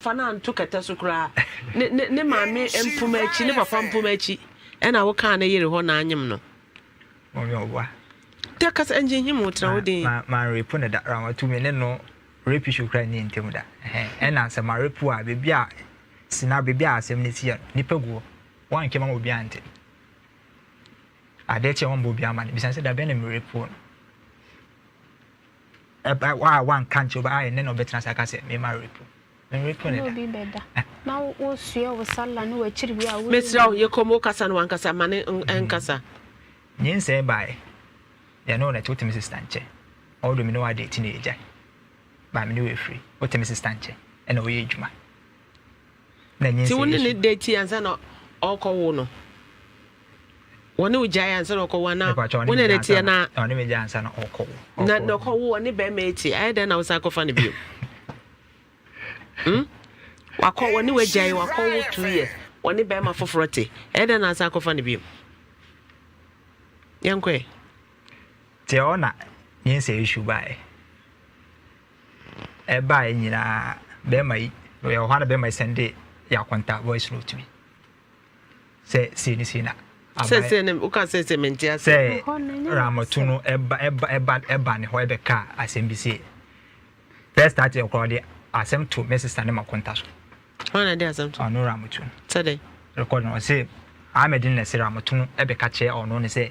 Fa no anto kɛtɛ so koraa. Ne ne ne maame mpoma akyi, ne papa mpoma akyi ɛna wo kaa ne yere hɔ na anyem no. Mɔmi ɔboa. Da kasa ngye nhim wo tra wo den. Ma ma ma repo ne da ra ma tu me ne no rape issue kura ni ntem da. Ɛna sɛ ma repo a bebi a sina bebi a asɛm ne si yɛ no nipa guo. Wɔn anke ma obi ante. Ade kye wɔn bɔ obi ama no bisa sɛ da bɛn na me repo no. Ɛba wa wanka nkyerɛ obi ayɛ ne na ɔbɛtena ase aka sɛ mema repo. Merepo ne da. Obi bɛda. Na wosoɛ wo sala ne w'akyiri wie a wo. Mesrɛ wo yɛ kɔm wokasa no wankasa ma ne nkasa. Nyinsɛn baeɛ yɛne wo na ɛte wotemi sista nkyɛ although me ne wo adate na yɛgyae but me ne wo afiri wotemi sista nkyɛ ɛna woyɛ adwuma. na nyinsɛn. Ti wo ne ne da ti ansa na ɔkɔ wo no wɔ ne wo gyae ansa na ɔkɔ wo ana wo ne ne teɛ na ɔne me gya ansa na ɔkɔ wo na na ɔkɔ wo ɔne bɛrima eti ayɛ dɛn na wosan kɔfa no bio hmm wakɔ wɔ ne wo gyae wakɔ wo two years wɔ ne bɛrima foforɔ te ayɛ dɛn na asan kɔfa no bio yɛnkɔɛ teɛ ɔna nyinsɛn issue baɛ ɛbaeɛ nyinaa bɛrima yi ɔyɛ ɔhɔ a na bɛrima yi sɛn de yɛ akonta voice note bi sɛ sei ne sei na aban sɛ ne woka sɛ sɛ mente ase sɛ ramatu no ɛba ɛba ɛba ɛba ne hɔ ɛbɛka asɛm bi sei first start yɛ kora ɔde asɛm to me sista ne ma konta so hɔn na de asɛm to ɔno ramatu no sɛ dɛ rekɔd no ɔse ahmed ne na ɛsɛ ramatu no ɛbɛka kyerɛ ɔno ne sɛ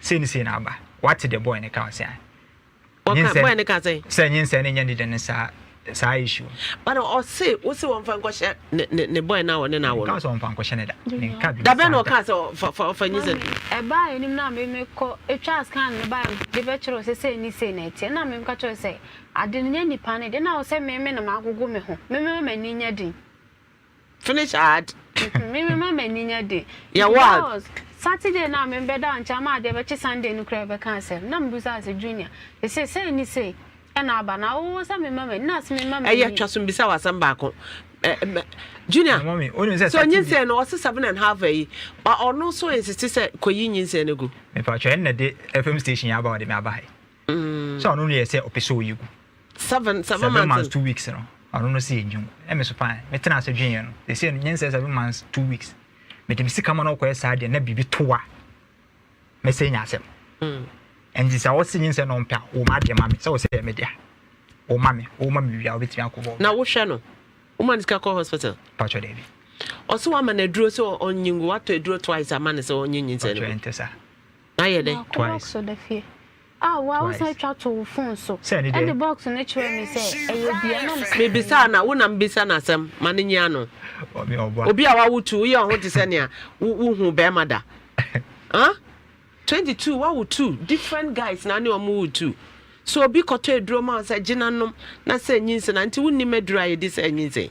Sei ne sei na aba. Woate deɛ boy no ka ɔse ae. Ɔka boy no ka sɛn? Sɛ nyinsɛn no nyɛ ne dɛ no saa saa issue no. But ɔse wose wɔmfa nkɔhyɛ ne ne boy no a ɔne no awo no. Menkaa sɛ wɔmfa nkɔhyɛ no da. Menka biribi saa da. Da bɛn na ɔkaa sɛ fa fa fa nyinsɛn no? Ɛbaa anim na me me kɔ twaa scan no bae no de bɛkyerɛ wo sɛ sei ne sei na ɛteɛ na meka kyerɛ wo sɛ ade no nyɛ nipa no de na wo sɛ me me na magogo me ho me mɛma m'ani nya din. Finish ad. Mepɛ me mema m'ani nyɛ den. Yɛ wo ad. Nti that was Saturday no a me bɛda wo nkyɛn ama adeɛ bɛkye Sunday no koraa bɛka asɛm na me bisaa sɛ Junior sesei sei ne sei ɛna aba na wo sɛ me mma m'ani na se me mma m'ani. Ɛyɛ twa so mbisa wo asɛm baako Junior sɛ onyinsɛn no ɔse seven and half ayi ɔno nso nsese sɛ kɔyi nyinsɛn no gu. Mepatwɔ ɛnna de FM station yi aba ɔde me aba ha yi. So ɔno no yɛ sɛ ɔpɛ sɛ ɔyɛ gu. Seven seven months two weeks no ɔno no sɛ ɛnyi gu. Ɛmɛ so paa mɛtena ase dwen yɛ no. Ɛsɛ no nyɛ sɛ seven months two weeks. Mede me sika ma no ɔkɔyɛ saa deɛ na biribi to a mɛsɛ nya asɛm. Mm. Ɛnti sɛ ɔsi nyi nsɛ na ɔmpɛ a wɔma adeɛ ma me sɛ ɔsɛ yɛ me dea. Wɔma me wɔma me wia wɔbɛtumi akɔ bɔ. Na wohwɛ no wɔma no sika kɔ hospital. Patro dɛbi. Ɔsɛ wɔama no aduro sɛ ɔnyi ngu watɔ aduro twice ama no sɛ ɔnyi nyi nsɛ no. Patro ɛntɛ saa. Wayɛ dɛ? Maako box da fie. Ah, woa wo san twa too wo phone so de box no kyerɛɛ me sɛ ɛyɛ bi a na ɔmo sɛ. Me bisaa no a, wo na me bisa no asɛm ma no nyia no. Obi a wawo two, woyɛ wo ho te sɛ nea wo huu bɛɛma da. Huh? Twenty two, wawo two, different guys na ne ɔmo woo two. So obi kɔtɔ aduro ma wo sɛ gyina nom na sɛ nyinsɛn a, nti wo nnim aduro a yɛdi sɛ nyinsɛn?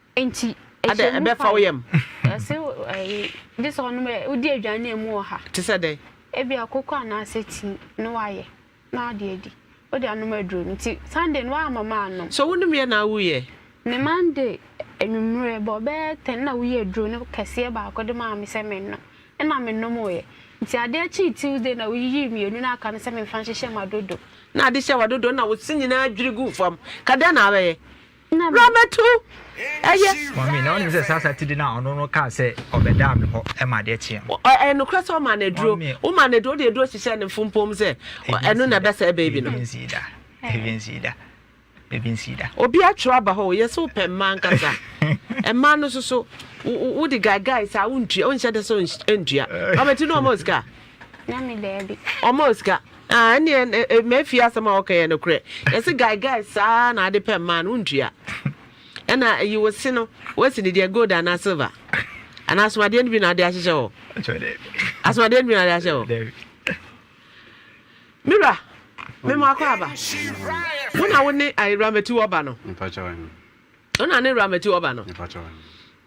Enti, ɛhyɛ mu fa wo yam. Ɔse ɛyi, gye sɛ ɔnom ɛ, wodi aduane a emu wɔ ha. Te sɛ dɛn? Ebia koko anaasɛ tea na wayɛ na wode adi. Wode anom aduro no. Nti Sunday no woamma mannom. So wonomeɛ na wuyɛ? Ne Monday anwummerɛ bɔ bɛyɛ ten na woyii aduro no kɛseɛ baako de maa me sɛ mennom. Ɛna menomoeɛ. Nti adeɛ kyee Tuesday na woyiyii mmienu no aka no sɛ memfa nhyehyɛ m'adodo. Na ade hyɛ w'adodo na wo se nyinaa dwiri guu fam. Ka dɛn na wobɛyɛ? Bra bɛto ɛyɛ. Maame, na wonim sɛ saa sati de no a ɔno no kaa sɛ ɔbɛdaa me hɔ ma adeɛ kyeeɛ no. Ɛyɛ nokorɛ sɛ womaa no aduro? Womaa no aduro, wode aduro hyehyɛɛ ne mfumpoom sɛ ɛno na ɛbɛsɛe baby no? Baby nsii da, baby nsii da, baby nsii da. Obi atwerɛ aba hɔ o, yɛse wopɛ mmaa ankasa. Mmaa no nso so wode gaegae saa wontua, wonhyɛ da sɛ wontua. Maame, ti no ɔma wo sika a? Maame, daabi. Ɔma wo sika? Ah ɛneɛ eh, ma afie asɛm a wɔka yɛ nokorɛ yɛse guy guy saa na ade pɛ mmaa no wontua ɛna ayi wo se no woasi ne deɛ gold anaa silver anaa asomadeɛ no bi na ade ahyehyɛ hɔ asomadeɛ no bi na ade ahyehyɛ hɔ mewura mema akɔ aba wo na wo ne awuramati wɔba no wo na ne awuramati wɔba no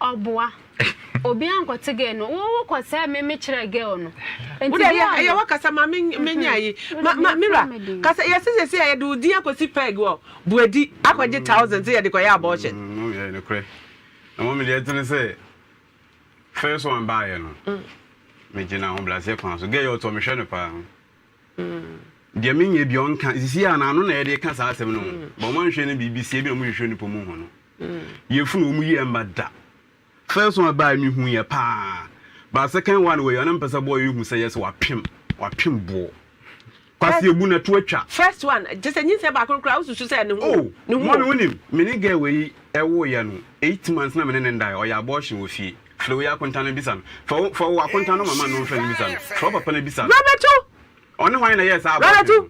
Ɔboa. Obi ankɔte girl no wo wo kɔ sɛ me me kyerɛ girl no. Nti girl no. Wode ɛyɛ ɛyɛwɔ kasa ma me me nya ayi. Ma ma mira kasa yɛsi sɛsi a yɛde wo din akɔsi peg wɔ buadi akɔgye thousand sɛ yɛde kɔyɛ abortion. Mom yɛ nokorɛ na mom deɛ ɛtene sɛ first one baayɛ no me gyina ahobraseɛ kwan so girl yɛ ɔtɔ me hwɛ no paa. Deɛ menyɛ bi ɔnka sisi a n'ano na yɛde ka saa asɛm no ho ba wɔn anhwɛ no biribi sie bi na wɔn hwehwɛ nipa mu ho no yɛ funu wɔn yi ɛmba da first one baa mi hu yɛ paa ba second one wɔ yɛ ɔna mpɛsɛ bɔɔ yɛ hu sɛ yɛ sɛ wapem wapem boɔ kwasi ebu na to atwa first one te sɛ nyinsɛ baako kura wosusu sɛ ne ho oh, ne ho mɔmi wonim mene gɛ wɔ yi ɛwɔ yɛ no eight months na mene ne ndae ɔyɛ abortion wɔ fie Frɛ wo yere akonta no bisa no. Frɛ wo frɛ wo akonta no mama no mfrɛ no bisa no. Frɛ wo papa no bisa no. Ɔne hwan na ɛyɛɛ saa aborɔfo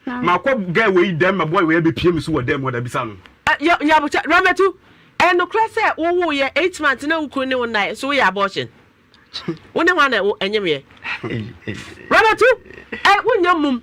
no? Makɔ girl wei dɛm ma boy wei abɛpie me so wɔ dɛm hɔ da bisa no. Nyabokyɛ, Ramatu, ɛyɛ nokorɛ sɛ wo wooyɛ eight months na wo kunu ne wo nnaeɛ nso woyɛ abortion? Wo ne hwan na ɛnyemeɛ? Ramatu, wo nnya mmom.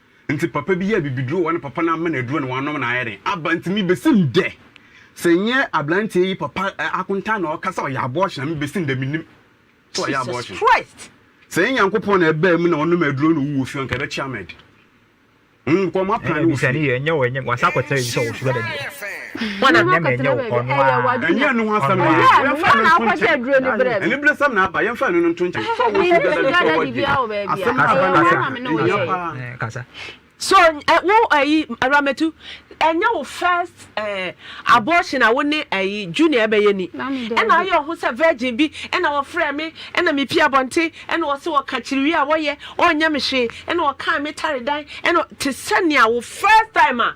Ntsi papa bi yɛɛ bibiduro wɔ ne papa no amena eduro na ɔanom na ayɛ dɛn aba. Ntsi mibesi ndɛ, sɛ nnyɛ aberantsɛ yi papa akontaa na ɔka sɛ ɔyɛ abortion a, mibesi ndɛ minnyim sɛ ɔyɛ abortion. Sɛ nye Nyankopɔn na ɛbaa mu na ɔnoom eduro na owu wɔ fie hɔ, nka ebɛkyea me de. Hom nkɔ, hom apra no wɔ fie. Wana nyɛ me nyɛ wo hɔ no ara. Ɛnyɛ ɛno ho asɛm na aba yɛmfa ɛno nto nkyɛn aniberesɛm na aba yɛmfa ɛno no nto nkyɛn sɛ ɔwɔ sugar daddy sɛ ɔwɔ gye asɛm no aba no yɛ ɛhia paa. So wo ayi Awuramatu ɛnyɛ wo first abortion a wo ne ayi Junior ɛbɛyɛ ni ɛna ayɛ ɔho sɛ virgin bi ɛna wɔfrɛ me ɛna me pie abɔnten ɛna ɔse wɔka kyiriwie a wɔyɛ ɔnyɛ me hwee ɛna ɔkaa me tare dan ɛna te sɛ nea wo first time a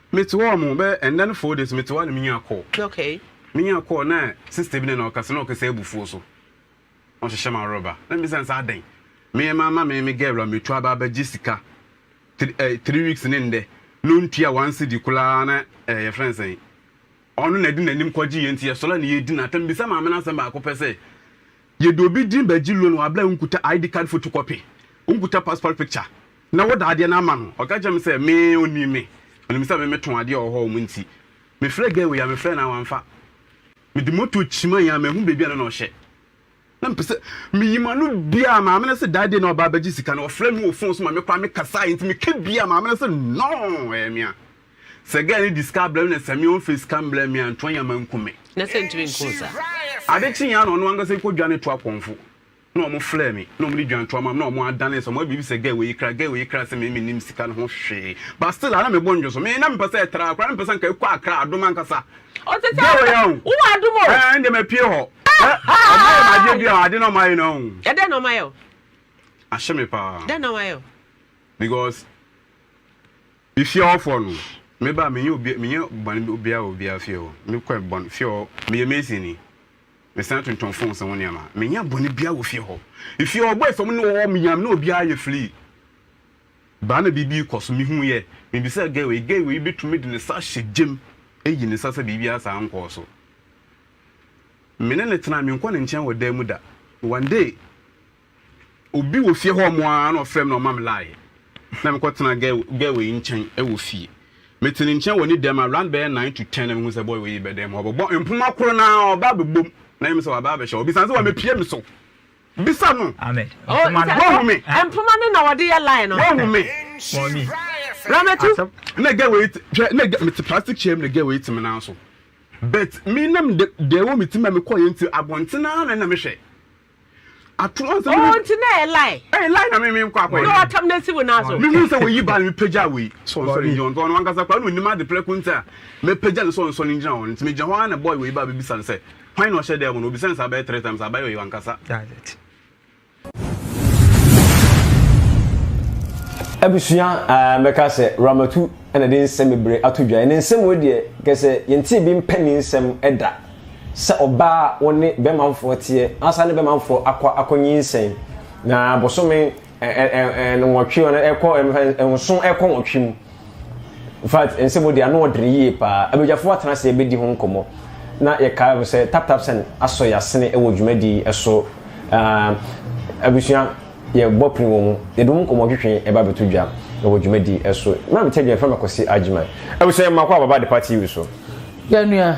Me te hɔ ɔmo bɛ ɛnɛ no four days me te hɔ ana me nya call. Okay. Me nya call na sister bi na na ɔkasa na ɔkasa abufuo so na ɔhyehyɛ ma reba na me bisa no sɛ adɛn me yɛ ma ma me me girl a me tu aba abɛgye sika three eh three weeks ne ndɛ na ontua one cedi koraa na eh yɛfrɛ no sɛn ɔno na ɛde n'anim kɔgye yɛ nti yɛsɔre a na yɛdi no atɛm bisa maame no asɛm baako pɛ sɛ Yɛde obi din bɛgye loan wɔ aberɛ a wonkuta ID card photocopy, wonkuta passport picture na woda adeɛ no ama no. Ɔka kyerɛɛ me sɛ me, ɔnim me, ɔnim sɛ me metɔn adeɛ wɔ hɔ nom nti, mefrɛɛ guy wei a, mefrɛɛ no a wamfa. Mede motor kyimaeɛ a manhu baabi a na na ɔhyɛ. Na mepɛ sɛ meyi m'ano bia a maame no se that day na ɔba abɛgye sika no, ɔfrɛɛ me wɔ phone so ma mekɔ a mekasaeɛ nti meka bia a maame no se no, ɛyɛ me a. Sɛ girl no di sika abrɛ me na sɛ me ɔnfɛ sika mbrɛ me a nto anya manku me. Na sɛ ntumi nku saa. Ade kye ya na ɔno ankasa ekɔ dwa ne to apɔnfo na ɔmo flɛ me na ɔmo de dwan to ama me na ɔmo adane sɛ ɔmo ayɛ biribi sɛ girl wei kra girl wei kra sɛ me me nim sika no ho hwee but still a na me bo ndwo so me na me pɛ sɛ ɛtra koraa na me pɛ sɛ nka ekɔ akra adom ankasa girl wei a o wowɔ adom o ɛɛ ndɛ ma pie hɔ ɛ ɔmo ayɛ ma adeɛ bi a ade na ɔmo ayɛ na o ɛdɛ na ɔmo ayɛ o ahyɛ me paa dɛ na ɔmo ayɛ o because. Me fie hɔ foɔ no me ba me nyɛ obia me nyɛ bɔne obia wɔ obia fie hɔ me kɔ bɔne fie hɔ me yɛ mason ni me san tontɔn phones ho nneɛma me nyɛ bɔne bia wɔ fie hɔ efie hɔ bɔ efam ne wɔ hɔ me yam ne obia yɛ free baa na biribi kɔ so me hu yɛ me bisa gay wei gay wei betumi de ne sa hyɛ gyem eyi ne sa sɛ biribi asa nkɔɔ so me ne ne tena me nkɔ ne nkyɛn wɔ dan mu da one day. Obi wɔ fie hɔ mo ara na ɔfrɛ me na ɔma me line na mekɔ tena girl girl wei nkyɛn wɔ fie. Mete ne nkyɛn wɔ ne dɛm around bɛyɛ nine to ten na mehu sɛ boy wei bɛ dɛm hɔ ɔbɛbɔ mpoma koro no ara ɔba abɛbom na ɛyɛ me sɛ waba abɛhyɛ ɔbisa me sɛ wamepie me so. Bisa no. Ahmed, Oh, mpoma no. Wahu me. nsa- mpoma no na wɔde yɛ line no. Wahu me. Mɔmi, Ramatu. asɛm Na girl wei te hwɛ na girl mete plastic chair mu na girl wei te me nan so but me na me de deɛ ɛwɔ me ti mu a mekɔɔyɛ nti abɔnten ara na na mehwɛ. ato ansa oh nti na ɛyɛ lie ɛyɛ lie na me me nkɔ akɔyɛ na watam na asi wo nan so mehu sɛ wɔyi ba no mepagya wei sɛ ɔnsɔre ngyina hɔ nti ɔno ankasa koraa na ɔnim ade prɛko nti a mɛpagya no sɛ ɔnsɔre ngyina hɔ no nti megyina hɔ ara na boy wei ba bɛbisa no sɛ hwan na ɔhyɛ dɛm no ɔbisa no saa bɛyɛ three times abayɛ ɔyɛ wankasa abusua mɛka sɛ ramatu ɛna de nsɛm bebree ato dwa ne nsɛm wɔ deɛ kɛ sɛ yɛnte bi mpɛ ne nsɛm da sɛ ɔbaa a ɔne bɛmanfoɔ teɛ asane bɛmanfoɔ akɔ akɔ nyinsɛn na bosome nwɔtwe ɔno ɛkɔ nson ɛkɔ nwɔtwe mu infact nsɛm odi ano ɔdere yie paa abadwafoɔ atena ase ɛbɛdi ho nkɔmmɔ na yɛkae ho sɛ tap tap sɛn asɔ yɛasene ɛwɔ dwumadie ɛso abusua yɛbɔ pene wɔ mu yɛde mu nkɔmmɔ twetwe ɛba bɛto dwa ɛwɔ dwumadie ɛso na metɛ dwene fama kɔsi agyeman abusua yɛmmakɔ ababa de pa tv so yɛnua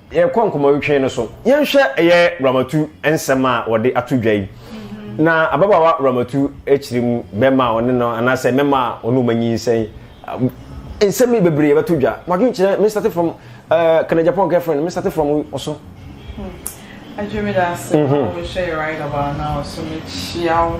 Yɛrekɔ nkɔmmɔwetwe no so, yɛnhwɛ ɛyɛ Ramatu nsɛm a wɔde ato dwa yi. Na ababaawa Ramatu kyerɛ mu bɛrima a ɔne no anaasɛ mɛma a ɔne wɔn anyinsɛn. Nsɛm yi bebree yɛbɛto dwa. Mo adwenkyerɛ, me start from uh, can a Japan girlfriend, me start from ɔso. Hmm. Adwemeda ase, mm -hmm. I will share right about now, so me chiao.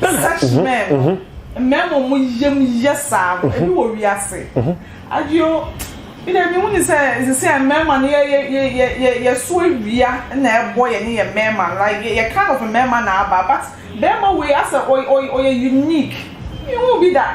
Sɛ hyemɛn no, mmarima a wɔn yam yɛ saa no, ebi wɔ wiase. Adio, me deɛ mehu ne sɛ sisi a mmarima no yɛ yɛ yɛ yɛ yɛ yɛso awia na ɛbɔ yɛne yɛn mmarima no like yɛ yɛ kind of mmarima na aba but barima wei asɛ ɔyɛ ɔyɛ ɔyɛ unique. Mehu bi da.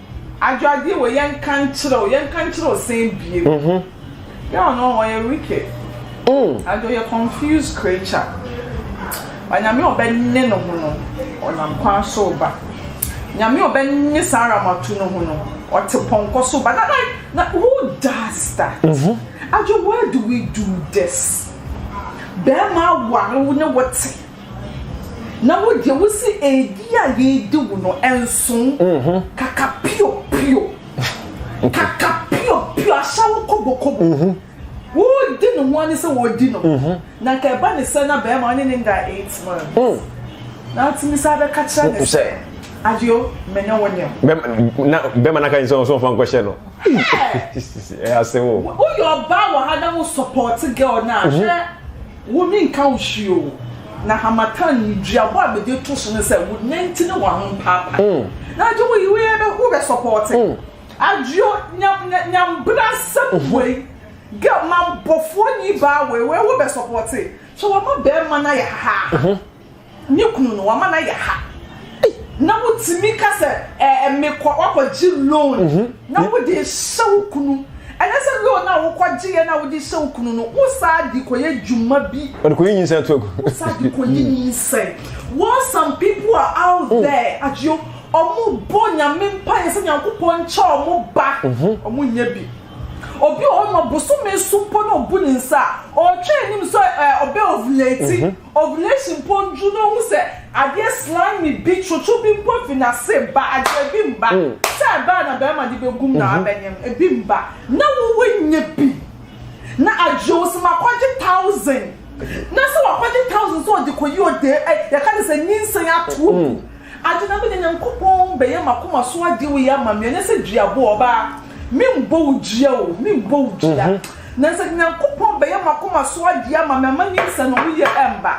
Adwoadeɛ wɔ yɛnka nkyerɛ wo yɛnka nkyerɛ wo sɛn biem girl no ɔyɛ wicked and ɔyɛ confused creature but nyame ɔbɛnye no ho no ɔnam kwan so ba nyame ɔbɛnye saa aramatu no ho no ɔte pɔnkɔ so ba na na na who does that adwo why do we do this bɛrima aware wo ne wo te Na wo deɛ wo se edi a yedi wo no ɛnso kaka pio pio kaka pio pio ahyɛ wo kobo kobo wo di ne ho ani sɛ wo di no na nka ɛba ne sɛ na bɛrima ɔne ne nda eight months na atumi sɛ abɛka kyerɛ ne sɛ adio me ne wo ne wo na bɛrima naka ne sɛ ɔsɔn fa nkɔhyɛ no ɛyɛ asɛm o woyɛ ɔbaa wɔ ha na wo support girl na ahwɛ Wo ne nka wo hwee o. Na hamatan ne duabɔ a mede to so ne sɛ wo nanti ne w'ahompaapa. Na agye wo yi wo yɛ bɛ wo bɛ sɔpɔɔte. Adwo nyam nya nyam bena sɛm wei gɛ ma bɔfoɔ ni baa wei wɛ wo bɛ sɔpɔɔte. Sɛ wama bɛɛma no ayɛ hahaaha. Ne kunu no wama no ayɛ ha. Na wotumi ka sɛ ɛɛ mekɔ wakɔgye loan na wode hyɛ wo kunu. Ɛnɛ sɛ loan a wokɔgye yɛ na wode hyɛ wo kunu no wosaa de kɔyɛ dwuma bi. Wɔde kɔyi nyinsɛn to agu. Wosaa de kɔyi nyinsɛn. While some people are out there adwo ɔmo bɔ nyame mpaeɛ sɛ nyankopɔn nkyɛ ɔmo ba ɔmo nyɛ bi. Obi wɔ hɔ no ma bosome so mpo na obu ne nsa a ɔtwɛn anim sɛ ɔbɛ ovulate. Ovulation mpo ndu na ohu sɛ adeɛ slimy bi, twotwo bi mpo fi n'ase ba a, deɛ ebi mba sɛ ɛba a na bɛrima de bɛgu mu na wabɛnyɛ no, ebi mba. Na wo woanya bi na agye wo sɛm akɔgye thousand na sɛ wakɔgye thousand sɛ ɔde kɔyi ɔde ɛ, yɛka ne sɛ nyinsɛn ato wo mu. Ade na menya Nyankopɔn bɛyɛ m'akoma so ade wei ama me, ɛnyɛ sɛ duaboɔ, ɔbaa, memmɔ wo dua o, memmɔ wo dua. Na sɛ Nyankopɔn bɛyɛ m'akoma so adeɛ ama me ama ne nsɛnhonoyɛ ɛmba,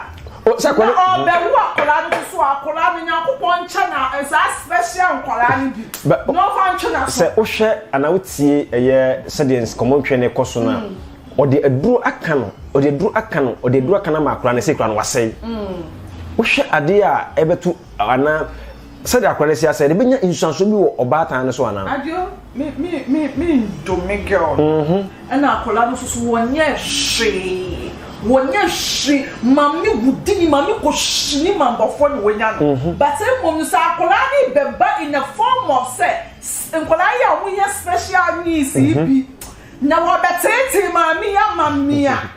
na ɔɔbɛwo akwadaa no nso so a, akwadaa no Nyankopɔn nkyɛ no a, saa special nkwadaa no bi, na ɔmfa ntwe n'aso. Sɛ wohwɛ anaa wotie ɛyɛ sɛdeɛ nkɔmmɔ ntwɛn no rekɔ so no a, ɔde aduro aka no, ɔde aduro aka no, ɔde aduro aka no ama akwadaa no, sei koraa no wasɛe. Wohwɛ adeɛ a ɛbɛto anaa sɛdeɛ akwadaa no asi asɛe no, ɛbɛnya nsuansoɔ bi wɔ ɔbaatan no so anaa? Me me me me ndo me girl no. Mm -hmm. Ɛna akwadaa no soso wɔnyɛ hwee wɔnyɛ hwee maame wudi ni maame kɔ hyi ni ma mbɔfoɔ na wɔnya no. Mm-hmm. But mmom no sɛ akwadaa no bɛba in the form of sɛ nkwadaa yi a wɔyɛ special needs yi mm-hmm. bi na wɔbɛteetee maame yi ama mmea.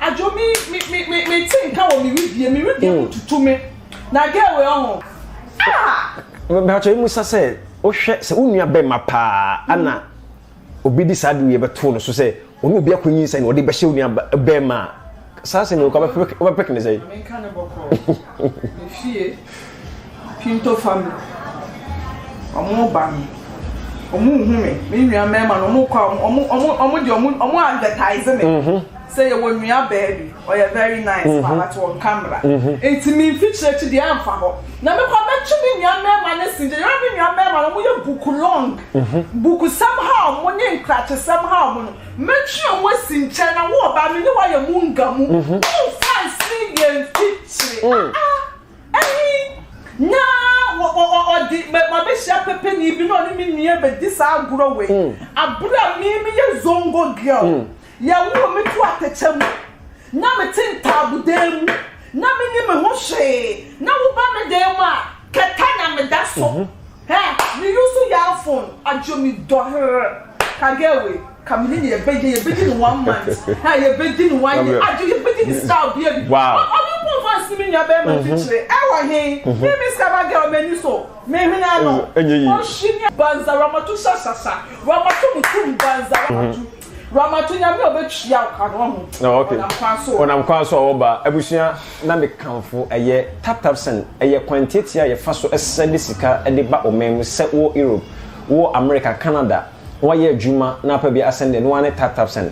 Adwo mi mi mi mi mi ti nka wɔ mi wi die mi wi die mu hmm. tutu mi na gɛɛ wei ɔho. Bàtò emu sa sɛ wohwɛ sɛ wo nua bɛrima paa ana hmm. obi di saa de wei bɛto no so sɛ ɔne obi akɔ nyi nsɛn na ɔde bɛhyɛ wo nua bɛrima a saa sɛ mi wɔ kɔ bɛpɛk ne sɛ. Pinto family, ɔmo ba no, ɔmo nhu me, me nua mɛɛma no, ɔmo kɔ a, ɔmo, ɔmo, ɔmo deɛ ɔmo, ɔmo advertise me. Mhm. Sɛ yɛ wɔ nua bɛɛ bi, ɔyɛ very nice, mhm. paa, but wɔn kamera. Mhm. Nti mi nfi kyerɛkyi deɛ anfa hɔ. Na mi kɔ abɛtwe me nua mɛɛma ne si, deɛ yɛrɛ mi nua mɛɛma no, ɔmo yɛ buku long, buku sɛm ha ɔmo ne nkrakye sɛm ha ɔmo no, mɛtwe ɔmo si nkyɛn na wɔn ɔbaa mi ne wɔn ayɛ mu nga mu, wɔn nfa nsi yɛn fi kyerɛ. Ɛhe na ɔde m'abɛhyia pɛpɛni bi na ɔne me nua bɛdi saa agorɔ wei hmm. abere a me meyɛ zongo girl hmm. yɛwoo me to atɛkyɛ mu na mete ntaabodan mu na menni me ho hwee na woba me dan mu a kɛtɛ na meda so mhm. Hɛ me use yard phone adwo me dɔ herr ka girl wei ka me ne no yɛ bɛgye yɛ bɛgye no one month hɛ yɛ bɛgye no one year adwo yɛ bɛgye no style bia bi ɔ ɔno mpo nfa nsene me nua bɛɛma nfi kyerɛ ɛwɔ he me me scabba girl m'ani so me hwene ano ɔhye me banza ramatu shashasha ramatu mutum banza ramatu Ramato nyame a ɔbɛtua wo ka no ɔho oh, ɔnam kwan so ɔnam kwan so ɔwɔ ba abusua na mekamfo ɛyɛ taptapsen ɛyɛ kwan tiatia a yɛfa so ɛsɛ de sika de ba ɔman mu sɛ wɔ Europe wɔ America Canada wɔayɛ adwuma na apa bi asɛn deɛ no ara ne taptapsen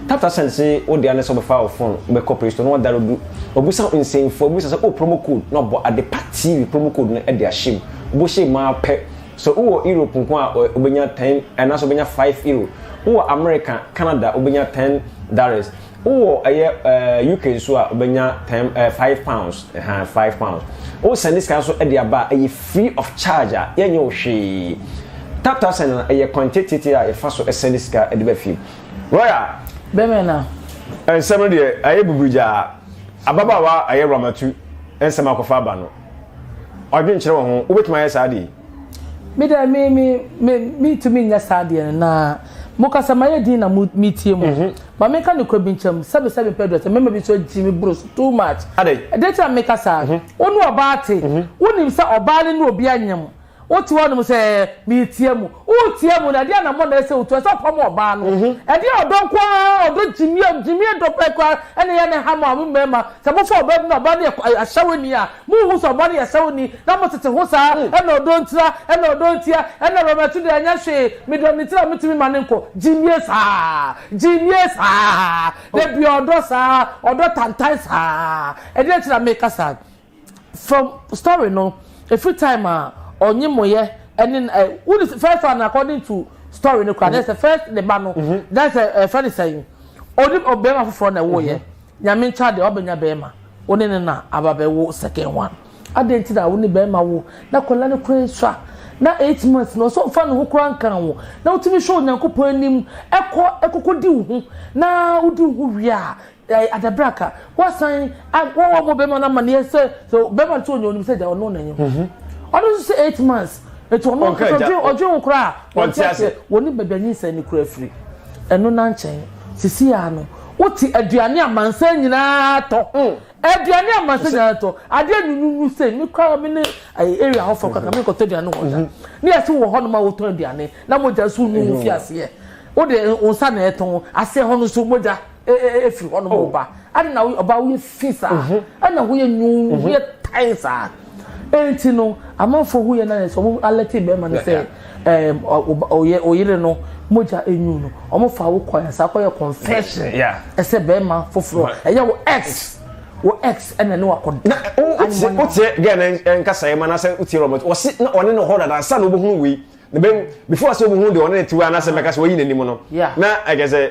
taptapsen se wode ane sɛ wobɛfa wo phone wobɛkɔ play store na wɔdare du ɔbusa nsɛmfoɔ bisa sɛ o oh, promo code na ɔbɔ adepa tv promo code no de ahyɛ mu wobɔhyɛ mu ara pɛ So wowɔ Europe nko a wobɛnya ten anaasɛ wobɛnya five euro? Wowɔ America, Canada wobɛnya ten dollars. Wowɔ ɛyɛ ɛɛ UK nso a wobɛnya ten ɛɛ five pounds ɛhan five pounds. Wosɛnde sika nso ɛde aba a ɛyɛ free of charge a yɛnyɛ wo hwee. Tap tap send no ɛyɛ kwan tiatiatia a yɛfa so sɛnde sika ɛde ba fie. Royal. Bɛmɛ na. Nsɛm no deɛ ayɛ buburigyaa. Ababaawa ayɛ Ramatu nsɛm akɔfa aba no. ɔdwenkyerɛ wɔ ho. Wobɛtumi ayɛ saa adeɛ yi? Me deɛ, me, me, me, mentumi nyɛ saa adeɛ no, na mokasa ma ayɛ dinn na mo, metie mo. Mhm. Ma menka nokorɛ bi nkyerɛ mo, sɛbe sɛ mempɛ aduasa, mmarima bi nso agyi me boro so too much. Adɛn? Deɛ nti na meka saa, Mhm. wo ne ɔbaa te, Mhm. wonim sɛ ɔbaa no ne obi anyem. Wote hɔnom sɛ, Meretia mu. Woretia mu no, ɛdeɛn na mmɔ na ɛsɛ sɛ wotu? Ɛsɛ sɛ ɔpam ɔbaa no. Ɛdeɛn ɔdɔ nko ara, ɔdɔ gyimie a, gyimie dɔ pɛ koraa na ɛyɛ no ha ma mo mmarima. Sɛ mofa ɔbaa bi na ɔbaa no yɛ ahyɛwani a, monhu sɛ ɔbaa no yɛ ahyɛwani na motete ho saa? Ɛna ɔdɔ ntira, ɛna ɔdɔ ntia, ɛna Roberto deɛ ɛnyɛ hwee, medɔ no ntira metumi ma no nkɔ. Gyimie saa, gyimie saa, dabi ɔdɔ saa, ɔdɔ tantan saa. Ɛdeɛn nti na mereka saa? From story no ɛfiri time a ɔnye moyɛ ɛne no ɛ wo ne first one according to story no kora na ɛsɛ first ne ba no na ɛsɛ ɛfɛ ne sɛn ɔne bɛrima foforɔ na ɛwɔyɛ nyame nkyɛ adeɛ wabɛnya bɛrima wo ne no na aba bɛwo second one adɛn nti na wo ne bɛrima wo na akwadaa no kora sua na eight months na ɔsɛ ɔfa ne ho kora nkan wo na wotumi hwɛ onyankopɔn anim ɛkɔ ɛkɔkɔ di wo ho na wodi wo ho wie a Ɛɛ adabraka wasan a wɔn wɔn bɔ bɛrima no amaneɛ sɛ sɛ bɛrima no sɛ ɔnyɛ onim sɛ gya ɔno na nyɛ ho ɔno nso sɛ eight months etu ɔno nso ɔdwen ɔdwen ho koraa wɔn ti ase wɔn ne baabi anyi nsɛn ne kura afiri ɛno na nkyɛn sisi ya no wote aduane amansan nyinaa tɔ aduane amansan nyinaa tɔ adeɛ nununu sɛ mi kura mi ne ɛyɛ area hɔ fɔ kaka mi nkɔtɔ aduane wɔ da ne yɛsi wɔ hɔ nom a wotɔ aduane na mogya nso nunu fi aseɛ wode nsa na ɛtɔn aseɛ hɔ no nso mogya. ɛfiri hɔ nom oh. ɔba ade na ɔba woyɛ fi saa mhm. ɛna woyɛ nwuu mhm. woyɛ tan saa ɛnti no amanfoɔ ho yɛ na yɛ sɛ ɔmo alɛte bɛrima no sɛ ɛɛm ɔyɛ ɔyere no mogya enyu no ɔmo fa wo kwan saa kɔyɛ confession ɛsɛ bɛrima foforɔ ɛyɛ wo ex wo ex ɛna ne wakɔ da wotie wotie gɛn nkasa yɛ ma na sɛ wotie robert wɔsi na ɔne ne hɔ dada nsa na ɔbɛhunu wei na bɛn before sɛ ɔbɛhunu deɛ ɔne ne tiwa anasɛ mɛka sɛ wɔyi n'anim no na ɛkɛ sɛ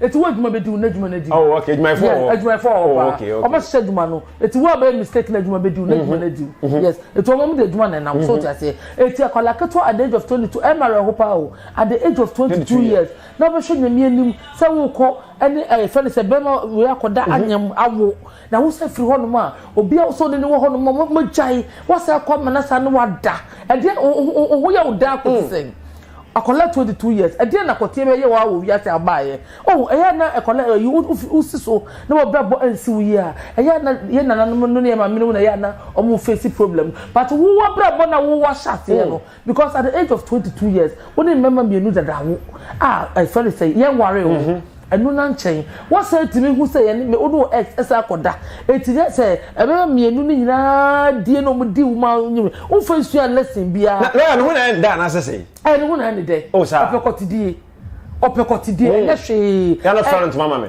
Eti wo adwuma bedi wo n'adwuma no adi. Oh, okay, adwumayɛfo wɔ hɔ. Yes, adwumayɛfo wɔ hɔ oh, paa. Oh, okay, okay. Ɔmo hyehyɛ adwuma no. Eti wo abɛyɛ mistake na adwuma bedi wo n'adwuma no adi. Mm-hmm, mm-hmm. Yes, eti ɔmo ɔmo de adwuma na ɛnam. So mm-hmm. ti aseɛ. Eti akwadaa ketewa at the age of twenty two ɛma rɛ ho paa o. At the age of twenty two years na ɔbɛhwɛ nyamia nim sɛ wokɔ ɛne ɛyɛ fɛn sɛ bɛrima wei akɔda anyam awo. Na wo san firi hɔnom a, obi a wosɛ ɔne no wɔ hɔnom a, moagyae, woasan akɔ amena saa ne woada. Ɛdeɛn, wo, wo, wo ho yɛ wo daa kɔsi sɛn? Akwadaa twenty two years, ɛdeɛn na kɔteɛ bɛyɛ wo ara wɔ wiase a wobaeɛ? Oh, ɛyɛ a na akwadaa ayi, wo, wofi, wosi so na w'abrabɔ ansi wo yie a, ɛyɛ a na yɛn nananom no ne yɛn maamenom na ɛyɛ a na wɔn face problem. But wo w'abrabɔ no a wo, woahyɛ aseɛ no, Because at the age of twenty two years wo ne mmarima mmienu dada wo a ɛfɛ ne sɛ yɛn ware wo ɛnu na nkyɛn wasan tumi hu sɛ yɛn ne wo ne wo ex ɛsan akɔda eti ne sɛ ɛbɛma mmienu ne nyinaa die na wɔn di wo ma nyim wo nfa nsua lesson biara. Na lawyer no ho na ɛyɛ ne dɛ anaasɛ sɛn? Ɛɛ ne ho na ɛyɛ ne dɛ. Oh saa. Ɔpɛ kɔtidie ɔpɛ kɔtidie ɛnyɛ hwee. Yɛn no fira no ntoma ma me.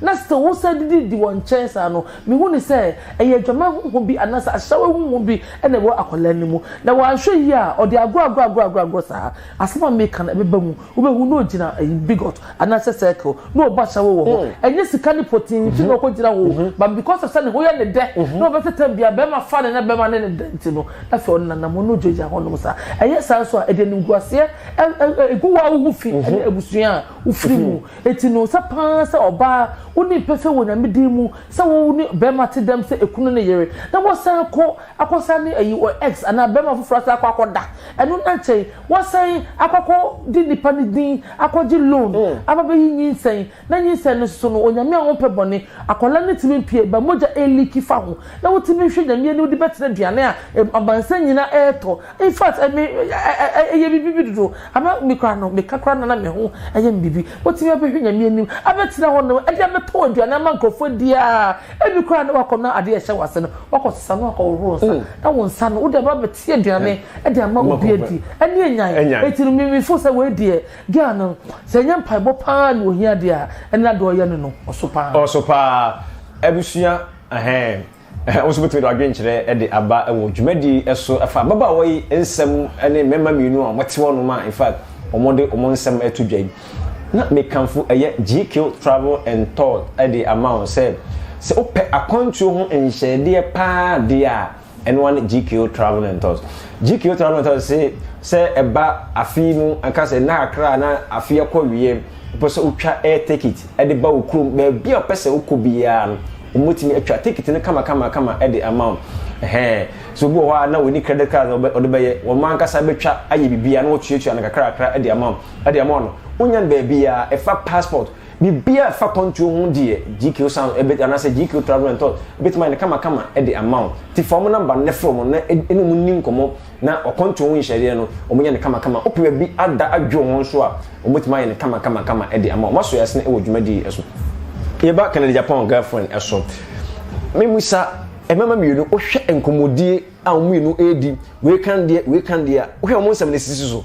Na sɛ wɔsan didi di wɔn nkyɛn saa no, mihu no sɛ ɛyɛ adwaman honhom bi anaasɛ ahyɛwee honhom bi na ɛwɔ akwadaa no mu. Na wanhwɛ yie a, ɔde agorɔagorɔagorɔagorɔ saa. Asɛm a meka no, ɛbɛba mu. Wobɛhu na ɔgyina bigot anaasɛ circle, na ɔbɔ ahyɛwee wɔ hɔ. Ɛnyɛ sika ne pɔtee nti na ɔkɔgyina hɔ o, but because of sɛ ne ho yɛ no dɛ, na ɔbɛ sɛ tam biara barima fa no na barima ne no da nti no, na afei ɔnenam hɔ na ɔgyinagyina hɔnom saa. Ɛyɛ saa nso a, ɛde animguaseɛ gu wo a wo ho fi ne abusua a wofiri mu. Eti no sɛ paa sɛ ɔbaa wonni pɛsɛ wɔ Nyame din mu sɛ wo ne bɛɛma te dɛm sɛ ekunu ne yere na wɔsan kɔ akɔsa ne ayi ɔ ex anaa bɛɛma foforɔ asan akɔ akɔ da ɛno na nkyɛn wasan akɔ akɔ de nnipa ne din akɔ gye loan aba bɛyi nyinsɛn na nyinsɛn no soso no Onyame a ɔmpɛ bɔne akɔla no tumi mpue ba mogya ɛɛliiki fa ho na wotumi nhwɛ Nyame anim de bɛtena aduane a amansan nyinaa ɛɛtɔ In fact ɛme ɛyɛ me bibi dodo ama me koraa no me ka koraa no na me ho ɛyɛ me bibi watumi abɛhwɛ nyame anim abɛtena hɔ nom ɛde abɛtɔn aduane ama nkorɔfoɔ adi aa ɛbi koraa no wakɔ na adeɛ ɛhyɛ wase no wakɔ sesa na wakɔ hohoro nsa na wo nsa no wode aba abɛte aduane ɛde ama obi adi ɛne anyan ɛti no me me fo sɛ wei deɛ girl no sɛ ɛnyɛ mpaebɔ paa na ohia deɛ a ɛne adeɛ ɔyɛ no no ɔso paa. Ɔso paa abusua ɛhɛɛm. Wo nso wobɛtumi de w'adwenkyerɛ de aba wɔ dwumadi yi so fa ababaawa yi nsɛm ne mmarima mmienu a wɔte hɔnom a in fact wɔde wɔn nsɛm reto dwa yi. Na mekamfo ɛyɛ GQ Travel and Tour de ama wo sɛ, sɛ wopɛ akwantuo ho nhyɛɛdeɛ paa deɛ a, ɛno ara ne GQ Travel and Tours. GQ Travel and Tours se sɛ ɛba afe yi mu, ɛka sɛ nna kakra a na afe akɔ wieɛ, wopɛ sɛ wotwa air ticket de ba wo kurom, baabi a wopɛ sɛ wokɔ biara no, Wɔbɛtumi atwa ticket no kamakamakama de ama wo. Ɛhɛɛ. So obi wɔ hɔ a na ɔnni credit card a ɔde bɛyɛ? Wɔn ankasa bɛtwa ayɛ biribiara na wɔatuatua no kakrakra de ama wo, de ama wo no. Wonya no baabiara. Ɛfa passport, biribiara a ɛfa kwantuo ho deɛ, GQ Sound ɛbɛ anaasɛ GQ Travel and Tours bɛtumi ayɛ no kamakama de ama wo. Nti fa wɔn number no na frɛ wɔn na ne wɔn nni nkɔmmɔ. Na ɔkwantuo ho nhyɛdeɛ no, wɔyɛ no kamakama. Wopɛ baabi ada adwo ho nso a, wɔbɛtumi ayɛ no kamakamakama de ama wo. Moaso yɛasene wɔ dwumadie yi so. Yɛba Kennedy Agyapong girlfriend so. Memmisa mmarima mmienu, wohwɛ nkɔmmɔdie a wɔn mmienu redi, wei kan deɛ, wei kan deɛ a, wohwɛ wɔn nsɛm no sisi so.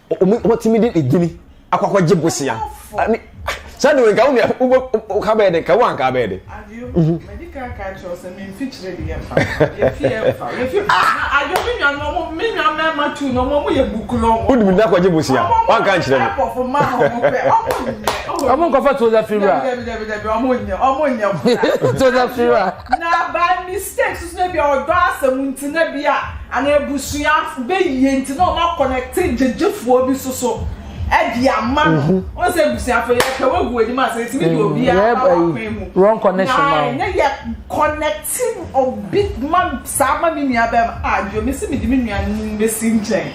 wɔn wɔtumi de ne gyini akɔ akɔgye bosea ɛne sɛ de nka wo nua wo wo ka bɛyɛ de nka wo anka bɛyɛ de. Mhm. wode mi nakɔgye bosea wanka nkyerɛ me ɔmo nkɔfa toza firiwura toza firiwura Na by mistake so na ebia ɔdɔ asɛm nti na bia anaa abusuafo bɛyie nti na ɔma connecte gyegyefoɔ bi so so ɛde ama no wɔn sɛ abusuafo yɛ pɛ wɔgu anim asɛ ɛtumi de obi ara ba wakwan mu wrong connection na ɛnyɛ yɛ connecte obi ma saa ma me nua bɛm a deɛ mesi mede me nua no bɛsi nkyɛn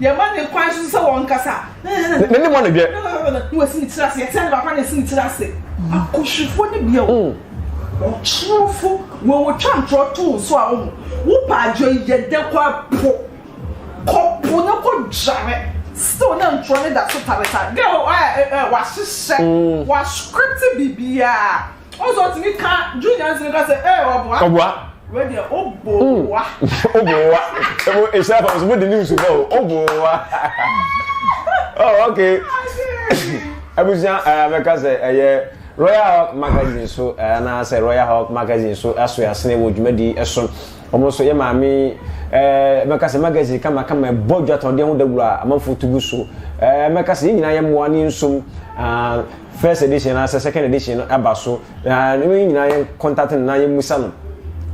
Yɛma no kwan nso sɛ ɔnkasa. Ne ne mu anodwɛ. Na wasi ne tiri ase. Yɛte ade baako a na asi ne tiri ase. Akɔhwɛfoɔ no bi a wɔtwerɛfo wɔn wɔtwa ntorɔ too nso a wɔn wopɛ adwo yi yɛ dɛ kɔ po kɔ po na kɔ dware still na ntorɔ no da so taretare girl ɛ ɛ wahyehyɛ wascript biribiara Ɔsɛ ɔtumi ka June nyansi no ka sɛ ɛɛ ɔboa. Ɔboa. Wei deɛ ɔbɔ mm. wa. Ɔbɔ wa. Ɛmu ehyɛ fam so mo di news bɔ o. Ɔbɔ wa. Oh okay. Abusua ɛɛ mɛka sɛ ɛyɛ Royal Hawk magazine so ɛɛ anaasɛ Royal Hawk magazine so aso asene wɔ dwumadi ɛso. Wɔn nso yɛ maame ɛɛ mɛka sɛ magazine kama kama ɛbɔ dwatɔdeɛ ho dawuro a amanfo tugu so. Ɛɛ mɛka sɛ yɛn nyinaa yɛ mmoa ne nsom. Ah, first edition anaasɛ second edition no aba so na ne wɔn nyinaa yɛn contact no na yɛn musa no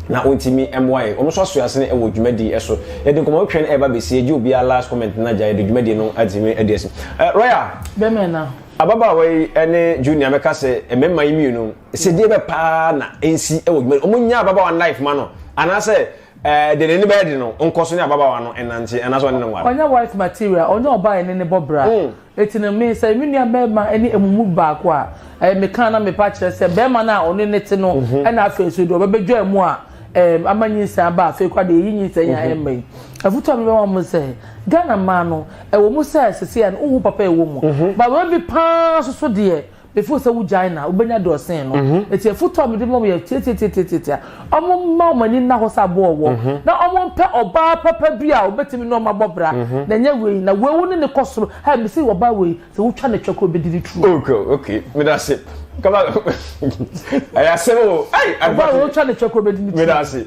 na ɔntumi mmoa yɛn wɔn nso aso ase no wɔ dwumadie so yɛde nkɔmɔ twɛn ɛreba bɛsi agye obiara last comment no agya yɛde dwumadie no atumi adi asi eh, royal bɛmɛ na ababaawa yi ne junior mɛka sɛ mmarima yi mmienu sɛ deɛ bɛ paa na nsi wɔ dwumadie wɔn nyɛ ababaawa life ma no anaasɛ ɛɛ de n'ani bɛyɛ de no nkɔ so ne ababaawa no ɛnante anaasɛ ɔne ne nware. ɔnyɛ wife material ɔnyɛ ɔbaa yɛ ne ne bɔ bra. Mm. Enti no, me, sɛ me nua barima ne ɛmo mu baako a, ɛɛ, me ka na me pa kyerɛ sɛ, barima no a ɔne no te no, ɛna afei nso deɛ ɔbɛbɛdwa ɛmo a, ɛɛ, ama nyinsɛn aba a, afei koraa deɛ yɛyi nyinsɛn a ɛmma yi. Afutuo a me bɛma mo ne sɛ, Ghana mmaa no, ɛwɔ mu sɛ seseɛ no, wohu papa a ɛwɔ mu, but wei bi paa nso so deɛ, before sɛ wogyae na wobɛnya deɛ ɔsen no mhm. ɛti afoto a mede ma yɛ tiatiatiatiatia ɔmo mma ɔmo ani nna hɔ sɛ aboɔ wɔ mhm. na ɔmo mpɛ ɔbaa papa bi a ɔbɛtumi ne ɔmo abɔ bra mhm. na ɛnyɛ wei na wei wo ne ne kɔ soro ha mesi ɔbaa wei sɛ wotwa ne twɛ kɔ bɛdi ne turo. ok ok meda se kama ɛyɛ asɛm o. ɔbaa wei wotwa ne twɛ kɔ bɛdi ne turo. meda se.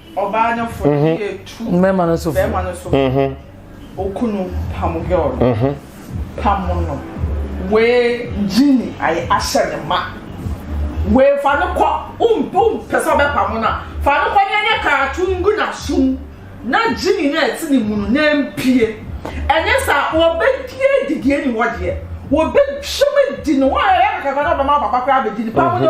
ɔbaa no fo de yɛ tu mmarima no so bɛrima no so okunu pam girl no pam no wee gyini ayɛ ahyɛ ne ma wee fa no kɔ wompo mpɛ sɛ ɔbɛpam no a fa no kɔ na nyɛ kaato ngu n'asom na gyini no a ɛte ne mu no na mpie ɛnyɛ saa wɔbɛdi adi deɛ ni hɔ deɛ wɔbɛtwam adi no wɔn a yɛyɛ kakra no ɔbɛma papa koraa bɛdi ne pam no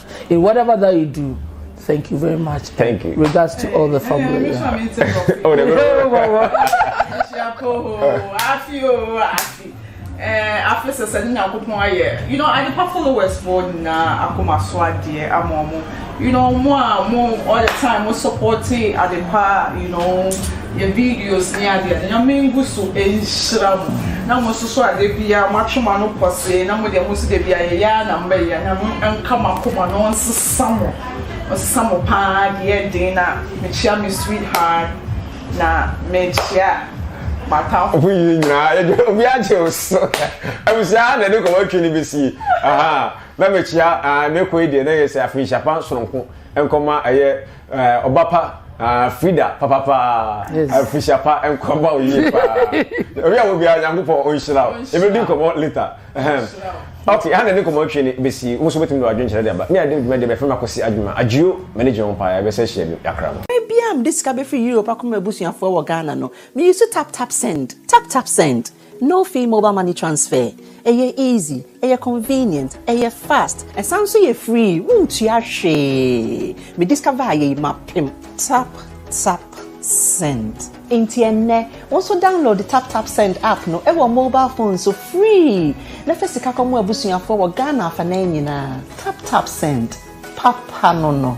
In whatever that you do, thank you very much. Thank you. Regards to all the family. oh, the afei sɛ sɛ ne nyankopɔn ayɛ you know adepa followers foɔ nyinaa akoma so adeɛ ama ɔmo you know mo a mo all the time mo support adepa you know yɛ videos ne ade a Nyame ngu so nhyira mo na mo nso so a da biara mo atwe mo ano pɔsee na mo deɛ mo nso da biara yɛyɛ ara na mobɛyɛ a Nyame nka mo akoma na ɔnsesa mo ɔnsesa mo paa deɛ yɛ den na mekyia me sweetheart na mekyia m'atamfo Ɔfo yie nyinaa yɛde obi agye wo so abusua na ɛde kɔmɔ atwi no bɛsie aha na mekyia ah, ne kɔ yi deɛ na yɛ sɛ afei hyapa soronko nkɔma ɛyɛ Ɛɛ ɔba pa aa Frida papa paa afuhyia pa nkwa ba o yie paa obi a obi a nyankopɔn ɔnhyira o ebi di nkɔmɔ later ɛhɛn ok ha na ne nkɔmɔ atwi ne besi wɔn nso betumi de wadwin kyerɛ de aba ne adi dwuma de bɛfɛ mu akɔsi adwuma adwio mɛni gye wɔn paa yɛ bɛsɛ hyia bi yakra no. Berɛ biara a mede sika bɛfiri Europe akɔma m'abusuafoɔ wɔ Ghana no, meyi so taptapsend, taptapsend. No fee mobile money transfer, ɛyɛ easy, ɛyɛ convenient, ɛyɛ fast, ɛsan nso yɛ free, wontua hwee, me discover yei mapem. Tap Tap Send. Enti ɛnnɛ, wo nso download Tap Tap Send app no wɔ mobile phone so free na fa sika kɔma w'abusuafoɔ wɔ Ghana afanan nyinaa. Tap Tap Send, papa no no.